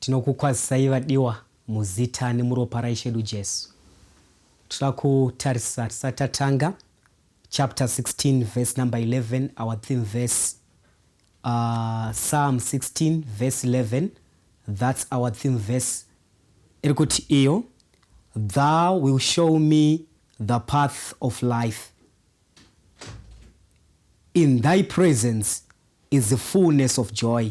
Tinokukwazisai vadiwa muzita nemuropa raIshe edu Jesu. Tinoda kutarisa tisati tatanga chapter 16 verse number 11 our theme verse uh, Psalm 16 verse 11 that's our theme verse iri kuti iyo thou will show me the path of life in thy presence is the fullness of joy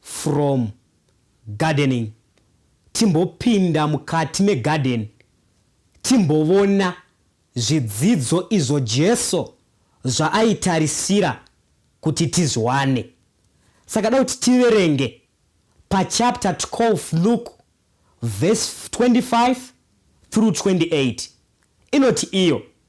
From gardening timbopinda mukati megarden timbovona zvidzidzo izvo Jesu zvaaitarisira kuti tizviwane. Saka da kuti tiverenge pachapter 12 Luke verse 25 through 28 inoti iyo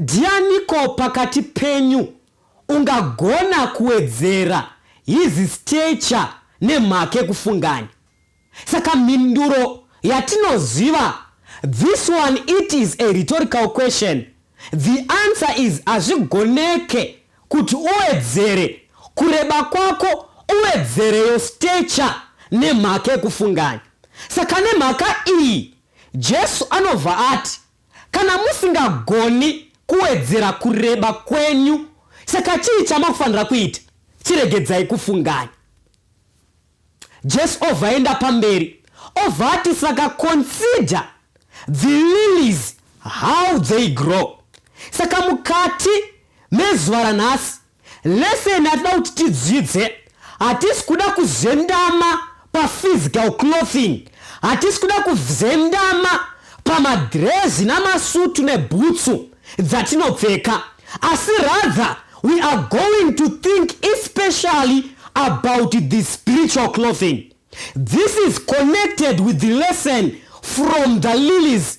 Ndianiko pakati penyu ungagona kuwedzera his stature nemhake kufungani? Saka mhinduro yatinoziva this one it is a rhetorical question the answer is hazvigoneke kuti uwedzere kureba kwako uwedzere your stature nemhake kufungani? Saka nemhaka iyi Jesu anobva ati. Kana musingagoni kuwedzera kureba kwenyu, saka chii chamakufanira kuita? Chiregedzai kufunganya. Jesu obva aenda pamberi obva ati, saka consider the lilies how they grow. Saka mukati mezuva ranhasi Lesson yatinoda kuti tidzidze, hatisi kuda kuzendama paphysical clothing, hatisi kuda kuzendama pamadhirezi namasutu nebhutsu dzatinopfeka asi rather we are going to think especially about the spiritual clothing. This is connected with the lesson from the lilies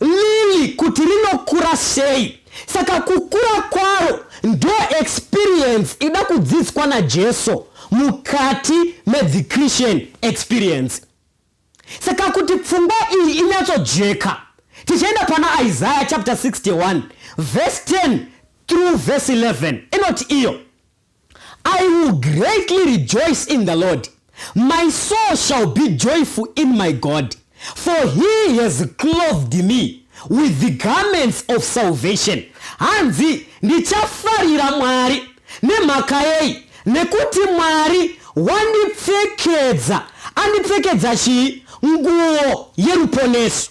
Lily kuti rinokura sei saka kukura kwaro ndo experience ida kudzidzswa naJeso mukati medzichritian experience. Saka kuti pfungwa iyi inyatsojeka tichaenda pana Isaiah chapter 61 verse 10 through verse 11 inoti iyo. I will greatly rejoice in the Lord. My soul shall be joyful in my God, for he has clothed me with the garments of salvation. Hanzi ndichafarira Mwari nemhaka yei? Nekuti Mwari wandipfekedza, andipfekedza chii? Nguo yeruponeso.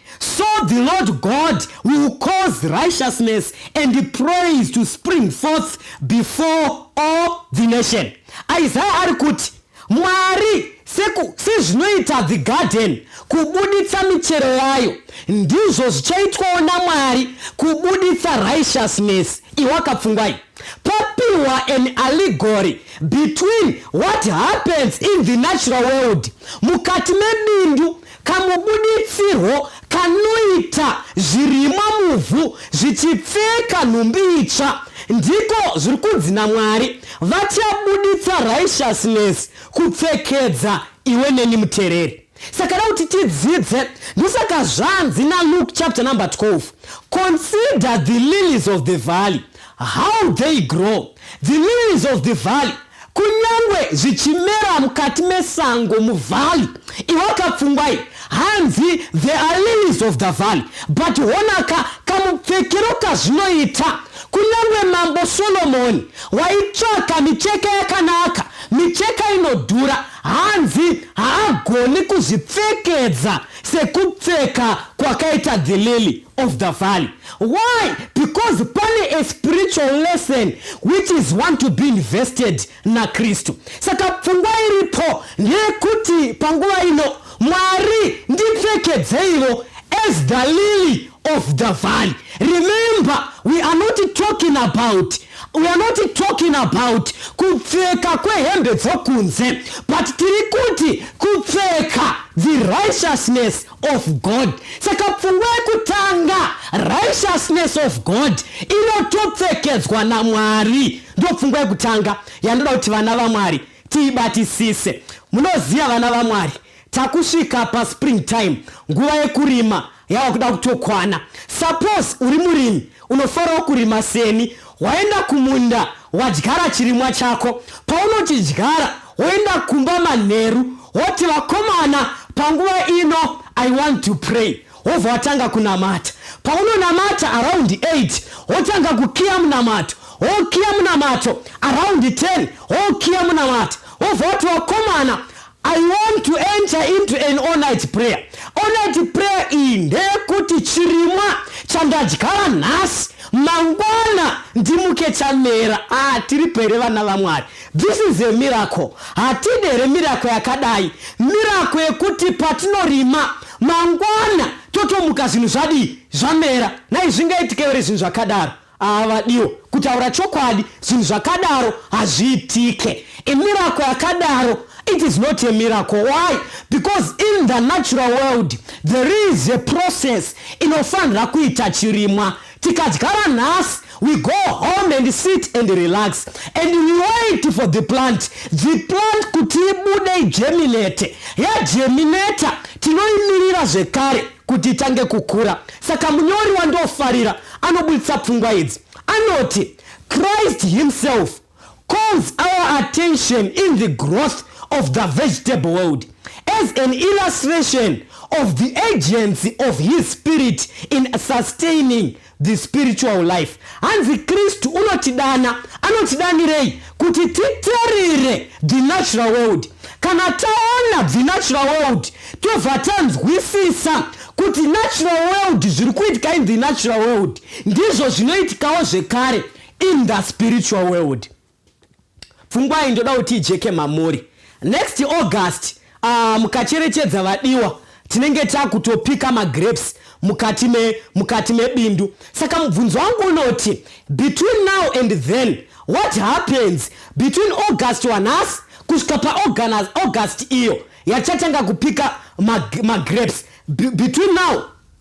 So the Lord God will cause righteousness and praise to spring forth before all the nation. Isaiah ari kuti Mwari sezvinoita the garden kubuditsa michero yayo ndizvo zvichaitwawo namwari kubuditsa righteousness iwakapfungwai papiwa an allegory between what happens in the natural world mukati mebindu Kamubuditsirwo kanoita zvirimwa muvhu zvichipfeka nhumbi itsva ndiko zviri kunzi naMwari, Vachabuditsa righteousness kupfekedza iwe neni mutereri. Saka da kuti tidzidze, ndosaka zvanzi naLuke chapter number 12, Consider the lilies of the valley. How they grow, the lilies of the valley, kunyangwe zvichimera mukati mesango muvalley iwakapfungwai hanzi the are lilies of the valley but honaka kamupfekero kazvinoita kunyangwe mambo solomoni waitsvaka micheka yakanaka micheka inodhura hanzi haagoni kuzvipfekedza sekupfeka kwakaita the lily of the valley why because pane a spiritual lesson which is one to be invested nakristu saka pfungwa iripo ndeyekuti panguva ino mwari ndipfekedzeivo as the lily of the valley remember we are not talking about we are not talking about kupfeka kwehembe dzokunze but tiri kuti kupfeka the righteousness of God saka pfungwa yekutanga righteousness of God inotopfekedzwa naMwari ndopfungwa yekutanga yandoda kuti vana vaMwari tiibatisise munoziva vana vaMwari takusvika paspring time nguva yekurima yava kuda kutokwana suppose uri murimi Unofarawo kurima seni, waenda kumunda wadyara chirimwa chako. Paunochidyara woenda kumba manheru woti vakomana panguva ino I want to pray wobva watanga kunamata. Paunonamata around 8 wotanga kukiya munamato wokiya munamato around 10 wokiya munamato wobva wati vakomana I want to enter into an all night prayer. All night prayer iyi ndeyekuti chirimwa chandadyara nhasi mangwana ndimuke chamera. Ah, tiripo here vana vaMwari? This is a miracle. Hatide here miracle yakadai? Miracle yekuti patinorima mangwana totomuka zvinhu zvadii zvamera. Nhai zvingaitike here zvinhu zvakadaro? Haavadiwo. Kutaura chokwadi zvinhu zvakadaro hazviitike. A miracle yakadaro it is not a miracle. Why? Because in the natural world there is a process inofanira kuita chirimwa. Tikadyara nhasi we go home and sit and relax and we wait for the plant the plant kuti ibude igeminate yageminata tinoimirira zvekare kuti itange kukura. Saka munyori wandofarira anoburitsa pfungwa idzi anoti Christ himself calls our attention in the growth of the vegetable world as an illustration of the agency of his spirit in sustaining the spiritual life hanzi kristu unotidana anotidanirei kuti titerere the natural world kana taona the natural world tobva tanzwisisa kuti natural world zviri kuitika in the natural world ndizvo zvinoitikawo zvekare in the spiritual world pfungwa iyi ndoda kuti ijeke mamuri next august uh, mukacherechedza vadiwa tinenge takutopika magrapes mukati me mukati mebindu saka mubvunzo wangu unoti between now and then what happens between august wanhasi kusvika paaugust iyo yachatanga kupika magrapes between now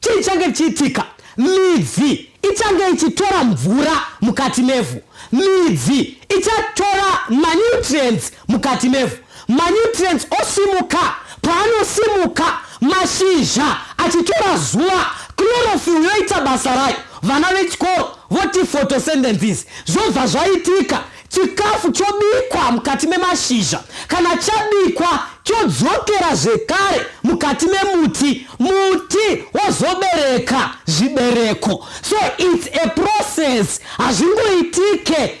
Chii chichange chichiitika? Midzi ichange ichitora mvura mukati mevhu. Midzi ichatora manutrients mukati mevhu. Manutrients osimuka. Paanosimuka, mashizha achitora zuva, chlorophyll yoita basa rayo. Vana vechikoro voti photosynthesis. Zvobva zvaitika Chikafu chobikwa mukati memashizha kana chabikwa chodzokera zvekare mukati memuti muti wozobereka zvibereko so its a process hazvingoitike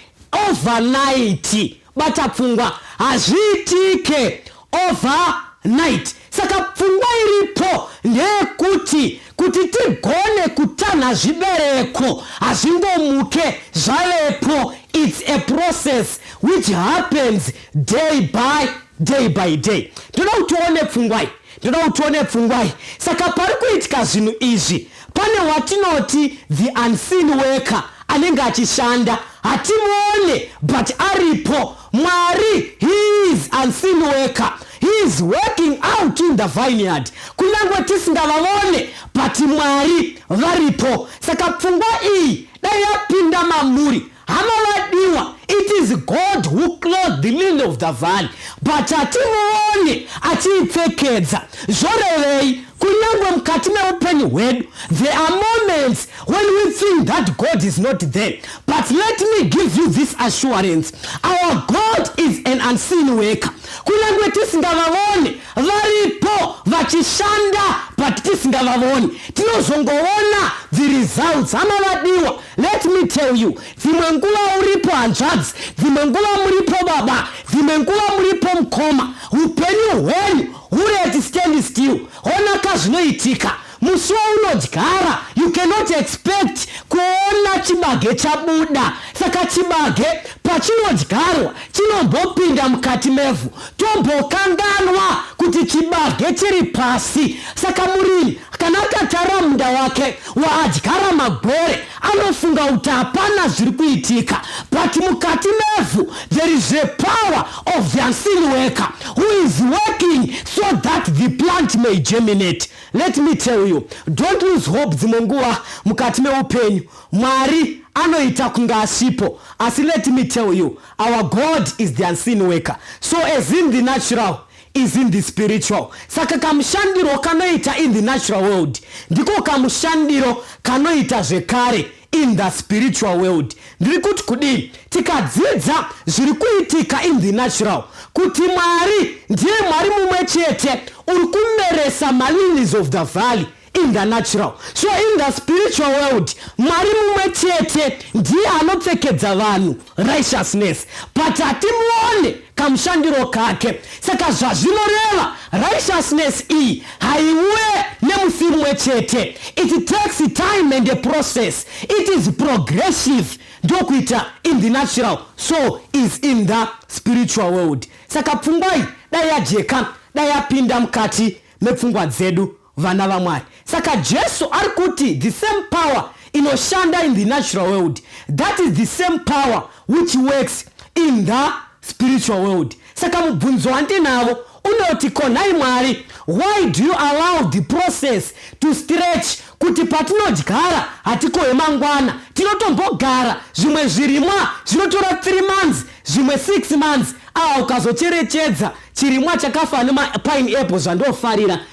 overnight bata pfungwa hazviitike Over night saka pfungwa iripo ndeyekuti kuti tigone kutanha zvibereko hazvingomuke zvavepo its a process which happens day by day by day ndoda kuti tione pfungwai ndoda kuti tione pfungwai saka pari kuitika zvinhu izvi pane watinoti the unseen worker anenge achishanda hatimuone but aripo Mwari he is unseen worker. He is working out in the vineyard. Kunyange tisingavavone but Mwari varipo. Saka pfungwa iyi dai yapinda mamuri. Hama vadiwa, it is God who clothed the lily of the valley but hatimuvone achiipfekedza. Zvorevei? Kunyangwe mukati meupenyu hwedu, there are moments when we think that God is not there. But let me give you this assurance. Our God is an unseen worker. Kunyangwe tisingavavone, varipo vachishanda but tisingavavoni. Tinozongovona the results. Hama vadiwa, let me tell you. Dzimwe nguva uripo hanzvadzi, dzimwe nguva muripo baba, dzimwe nguva muripo mukoma. Upenyu hwenyu Hure at stand still hona ka zvinoitika musi waunodyara you cannot expect kuona chibage chabuda saka chibage pachinodyarwa chinombopinda mukati mevhu tombokanganwa kuti chibage chiri pasi saka murimi kana akatara munda wake waadyara magwere Anofunga kuti hapana zviri kuitika but mukati mevhu there is a power of the unseen worker who is working so that the plant may germinate. Let me tell you, don't lose hope dzimwe nguva mukati meupenyu. Mwari anoita kunge asipo asi let me tell you, our God is the unseen worker. So as in the natural, is in the spiritual saka kamushandiro kanoita in the natural world ndiko kamushandiro kanoita zvekare in the spiritual world ndiri kuti kudii tikadzidza zviri kuitika in the natural kuti mwari ndiye mwari mumwe chete uri kumeresa malilies of the valley in the natural so in the spiritual world mwari mumwe chete ndiye anopfekedza vanhu righteousness but hatimuone kamushandiro kake saka zvazvinoreva righteousness iyi haiuye nemusi mumwe chete it takes time and a process it is progressive ndokuita in the natural so is in the spiritual world saka pfungwai dai yajeka dai yapinda mukati mepfungwa dzedu vana vaMwari. Saka Jesu ari kuti the same power inoshanda in the natural world that is the same power which works in the spiritual world. Saka mubvunzo wandinavo unoti ko nhai Mwari why do you allow the process to stretch kuti patinodyara hatikohe mangwana tinotombogara zvimwe zvirimwa zvinotora three months zvimwe six months aa ukazocherechedza chirimwa chakafa nemapine apple zvandofarira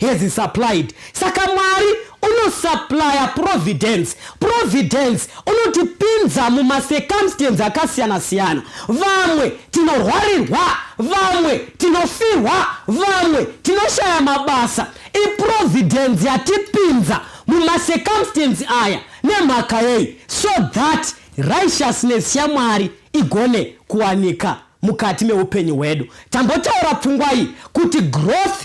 has supplied saka mwari unosuplya providence providence unotipinza mumacircumstance akasiyana siyana vamwe tinorwarirwa vamwe tinofirwa vamwe tinoshaya mabasa iprovidence yatipinza mumacircumstance aya nemhaka yei so that righteousness yamwari igone kuwanika mukati meupenyu hwedu tambotaura pfungwa iyi kuti growth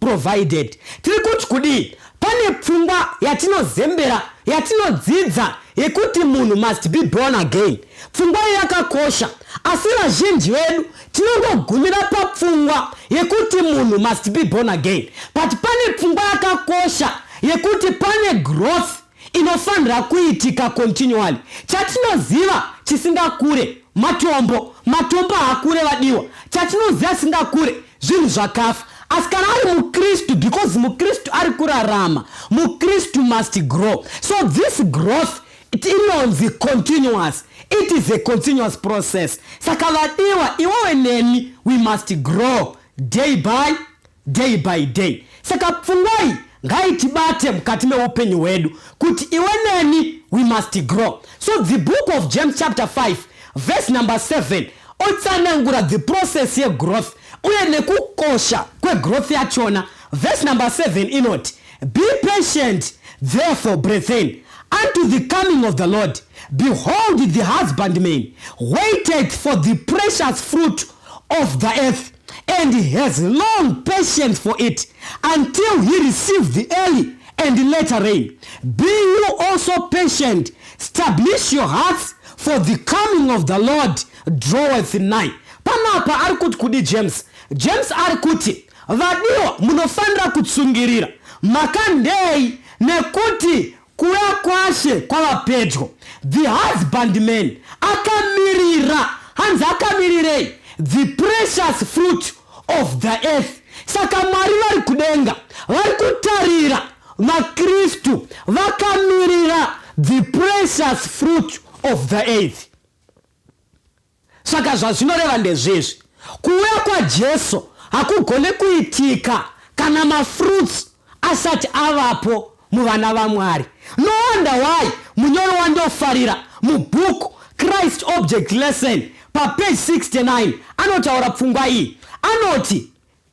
provided. Tiri kuti kudii? Pane pfungwa yatinozembera yatinodzidza yekuti munhu must be born again. Pfungwa iyo yakakosha, asi vazhinji vedu tinongogumira papfungwa yekuti munhu must be born again, but pane pfungwa yakakosha yekuti pane growth inofanira kuitika continually chatinoziva chisingakure matombo matombo haakure vadiwa chatinoziva chisingakure zvinhu zvakafa asi kana ari mukristu because mukristu ari kurarama mukristu must grow so this growth inonzi continuous it is a continuous process saka vadiwa iwewe neni we must grow day by Day by day. Saka pfungwa iyi ngaitibate mukati meupenyu hwedu kuti iwe neni we must grow. So the book of James chapter 5 verse number 7 otsanangura the process yegrowth uye nekukosha kwegrowth yachona. Verse number 7 inoti be patient therefore brethren unto the coming of the Lord behold the husbandman waiteth for the precious fruit of the earth and has long patience for it until he receive the early and later rain be you also patient stablish your hearts for the coming of the lord draweth nigh panapa ari kuti kudi james james ari kuti vadiwa munofanira kutsungirira makandei nekuti Kuuya kwaShe kwava pedyo. The husbandman akamirira. Hanzi akamirirei? The precious fruit of the earth. Saka Mwari vari kudenga vari kutarira vaKristu vakamirira the precious fruit of the earth. Saka zvazvinoreva ndezvezvi, kuuya kwaJesu hakugone kuitika kana mafruits asati avapo muvana vaMwari. No wonder why munyori wandofarira mubook Christ Object Lesson papage 69 anotaura pfungwa iyi. Anoti,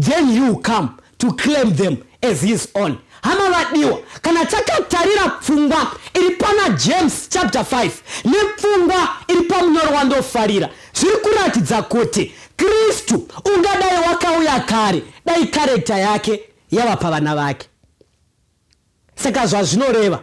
then he will come to claim them as his own hama vadiwa kana takatarira pfungwa iri pana james chapter 5 nepfungwa iri pamunyoro wandofarira zviri kuratidza kuti kristu ungadai wakauya kare dai karekta yake yava pavana vake saka zvazvinoreva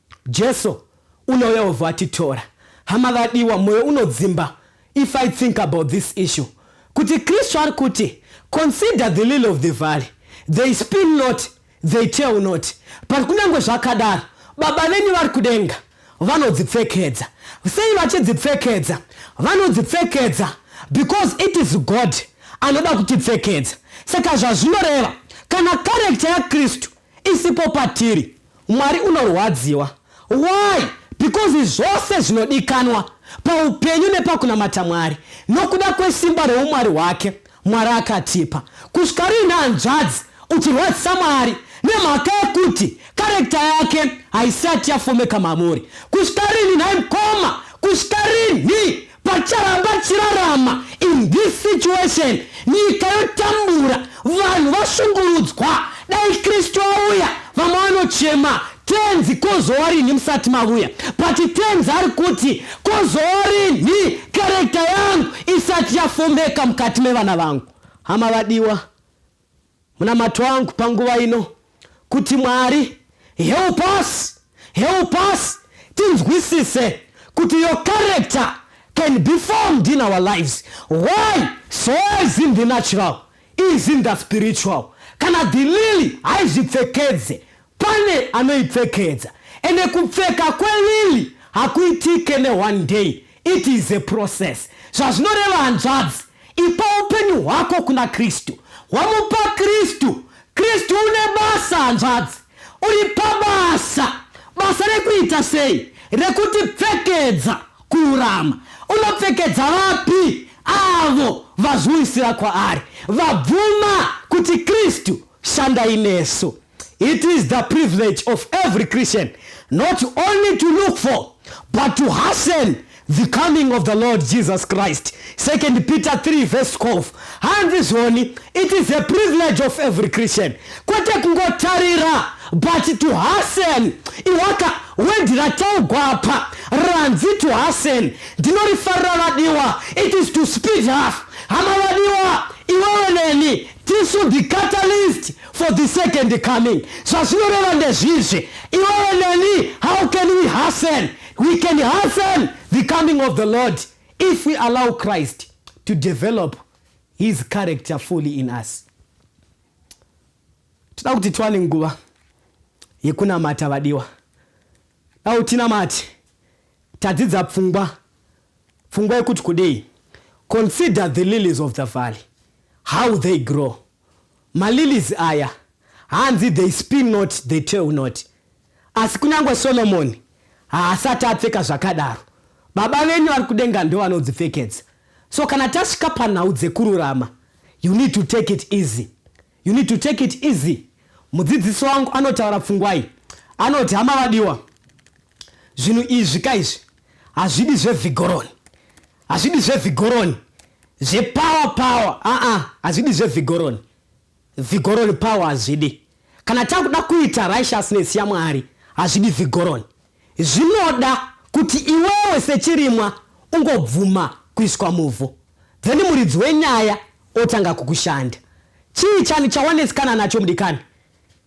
Jesu unouya wobva watitora. Hama vadiwa, moyo unodzimba if I think about this issue kuti Kristu ari kuti consider the lily of the valley, they spin not, they tell not, but kunyange zvakadaro Baba venyu vari kudenga vanodzipfekedza. Sei vachidzipfekedza? Vanodzipfekedza because it is God anoda kutipfekedza. Saka zvazvinoreva kana karekita yaKristu isipo patiri Mwari unorwadziwa why because zvose zvinodikanwa paupenyu nepakunamata Mwari nokuda kwesimba reumwari hwake Mwari akatipa kusvika riine hanzvadzi uchirwadzisa Mwari nemhaka yekuti karekta yake haisati yafomeka mamuri kusvika rini nhai mkoma kusvika rinhi Pacharamba chirarama in this situation nyika yotambura vanhu vashungurudzwa dai kristu auya vamwe vanochema tenzi kozowa rinhi musati mavuya but tenzi ari kuti kozowa rinhi karekta yangu isati yafomeka mukati mevana vangu hama vadiwa Munamato wangu panguva ino kuti Mwari help us, help us tinzwisise kuti your character can be formed in our lives. Why? So is in the natural, is in the spiritual. Kana dhilili haizvipfekedze Pane anoipfekedza ende kupfeka kwelily hakuitike ne one day it is a process zvazvinoreva hanzvadzi ipa upenyu hwako kuna Kristu wamupa Kristu Kristu une basa hanzvadzi uri pabasa basa rekuita sei rekuti pfekedza kururama unopfekedza vapi avo vazviwisira kwaari vabvuma kuti Kristu shandai nesu It is the privilege of every Christian not only to look for but to hasten the coming of the Lord Jesus Christ. 2 Peter 3 verse 12. Hanzi zvoni, it is a privilege of every Christian. Kwete kungotarira but to hasten. Iwaka wendi rataugwa apa ranzi to hasten. Ndinorifarira vadiwa. It is to speed up. Hama vadiwa, iwewe neni tisu the catalyst for the second coming zvazvinoreva ndezvizvi iwewe neni how can we hasten we can hasten the coming of the lord if we allow christ to develop his character fully in us tida kuti tiwane nguva yekunamata vadiwa dau tinamati tadzidza pfungwa pfungwa yekuti kudei consider the lilies of the valley how they grow Malilies aya hanzi they spin not they tell not asi kunyange Solomoni haasati apfeka zvakadaro. Baba venyu vari kudenga ndovanodzipfekedza. So kana tasvika panhau dzekururama you need to take it easy. You need to take it easy. Mudzidzisi wangu anotaura pfungwai anoti hama vadiwa zvinhu izvi ka izvi hazvidi zvevhigoroni hazvidi zvevhigoroni zvepower power aa hazvidi zvevhigoroni vigoroni power hazvidi kana takuda kuita righteousness yamwari hazvidi vigoroni zvinoda kuti iwewe sechirimwa ungobvuma kuiswa muvhu then muridzi wenyaya otanga kukushanda chii chani chawanesikana nacho mudikani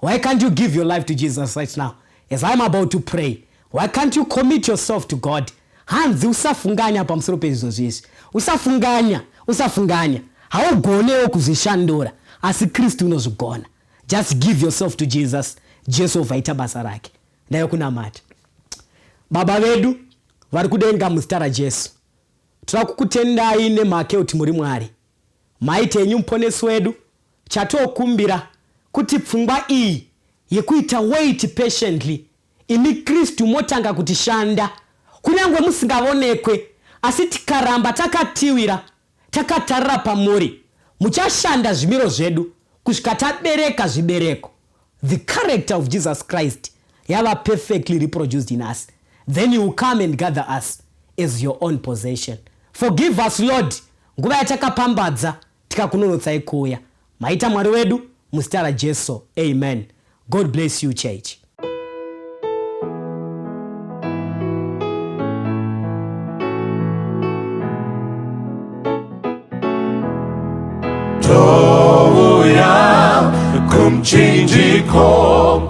Why can't you give your life to Jesus right now as I'm about to pray? Why can't you commit yourself to God? Hanzi usafunganya pamusoro pezvo zvizvi. Usafunganya, usafunganya. Haugonewo kuzvishandura, asi Kristu unozvigona. Just give yourself to Jesus. Jesu ovaita basa rake. Ndayo kunamata. Baba vedu vari kudenga muzita raJesu. Tira kukutendai nemhaka yekuti muri Mwari. Maite enyu muponesi wedu Chatokumbira kuti pfungwa iyi yekuita wait patiently imi Kristu motanga kuti shanda kunyangwe musingavonekwe asi tikaramba takatiwira takatarira pamuri muchashanda zvimiro zvedu kusvika tabereka zvibereko the character of Jesus Christ yava perfectly reproduced in us then you will come and gather us as your own possession forgive us Lord nguva yatakapambadza Tikakunonotsai kuuya maita Mwari wedu muzita raJesu Amen God bless you church. Touya kumchinjiko